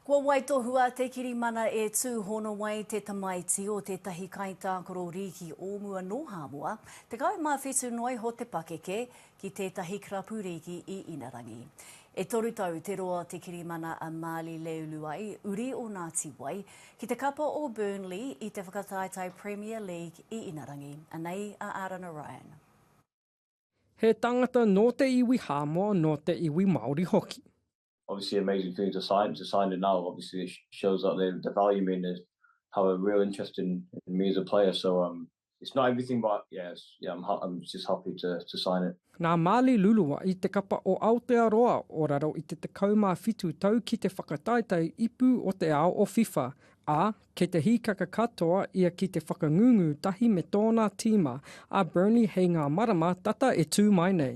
Kua waitohua te kirimana e Tūhonowai, te tamaiti o tētahi kaitākaro rīki o mua nō Hāmoa, 17 noa iho te pakeke, ki tētahi karapu rīki i Inarangi. E toru tau te roa o te kirimana a Maali Leuluai, uri o Ngāti Wai, ki te kapa o Burnley i te whakataetae Premier League i Inarangi. Anei a Arana Ryan. He tangata nō te iwi Hāmoa, nō te iwi Māori hoki. obviously amazing things to sign to sign it now. Obviously, it shows that they the value mean is have a real interest in, in me as a player. So um, it's not everything, but yeah, yeah, I'm, I'm just happy to to sign it. Nā Mali Lulua i te kapa o Aotearoa o raro i te 17 tau ki te whakataetae ipu o te ao o FIFA, ā, kei te hīkaka katoa ia ki te whakangungu tahi me tōna tīma, a Burnley hei ngā marama tata e tū mai nei.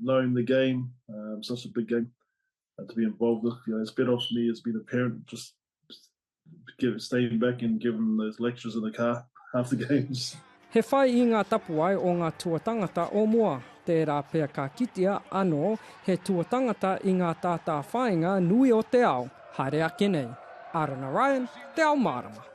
knowing the game, um, such a big game uh, to be involved with. You know, it's been off me as being a parent, just give, staying back and giving those lectures in the car after games. He whai i ngā tapuai o ngā tuatangata o mua, tērā pea ka kitea anō he tuatangata i ngā tātā whāinga nui o te ao, haere ake nei. Arana Ryan, Te Ao Mārama.